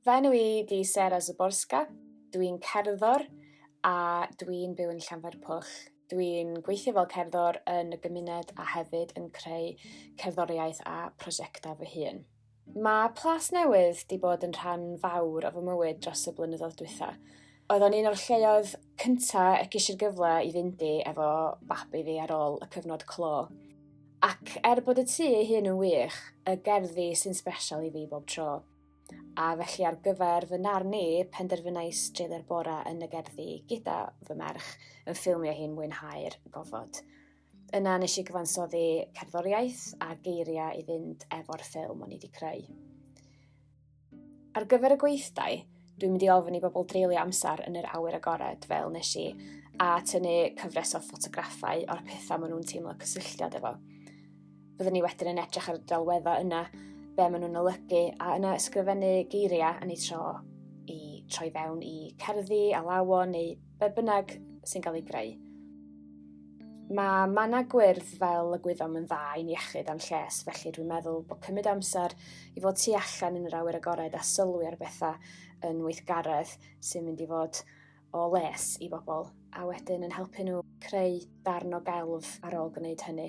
Fy enw i di Sarah Zaborska. Dwi'n cerddor a dwi'n byw yn Llanfairpwll. Dwi'n gweithio fel cerddor yn y gymuned a hefyd yn creu cerddoriaeth a prosiectau fy hun. Mae Plas Newydd 'di bod yn rhan fawr o fy mywyd dros y blynyddoedd dwytha. Oedd o'n un o'r lleoedd cynta y ges i'r gyfle i fynd i efo babi fi ar ôl y cyfnod clo. Ac er bod y tŷ ei hun yn wych, y gerddi sy'n sbesial i fi bob tro. A felly ar gyfer fy narn i, penderfynais dreulio'r bora yn y gerddi gyda fy merch yn ffilmio hi'n mwynhau'r gofod. Yna nes i gyfansoddi cerddoriaeth a geiriau i fynd efo'r ffilm o'n i wedi creu. Ar gyfer y gweithdai, dwi'n mynd i ofyn i bobl dreulio amser yn yr awyr agored fel nes i, a tynnu cyfres o ffotograffau o'r pethau maen nhw'n teimlo cysylltiad efo. Byddwn ni wedyn yn edrych ar y delweddau yna, be maen nhw'n olygu, a yna ysgrifennu geiriau yn ei tro i troi fewn i cerddi, alawon neu be bynnag sy'n cael ei greu. Mae manna gwyrdd fel y gwyddom yn dda i'n iechyd a'n lles, felly dwi'n meddwl bod cymryd amser i fod tu allan yn yr awyr agored a sylwi ar bethau yn weithgaredd sy'n mynd i fod o les i bobl, a wedyn yn helpu nhw creu darn o gelf ar ôl gwneud hynny.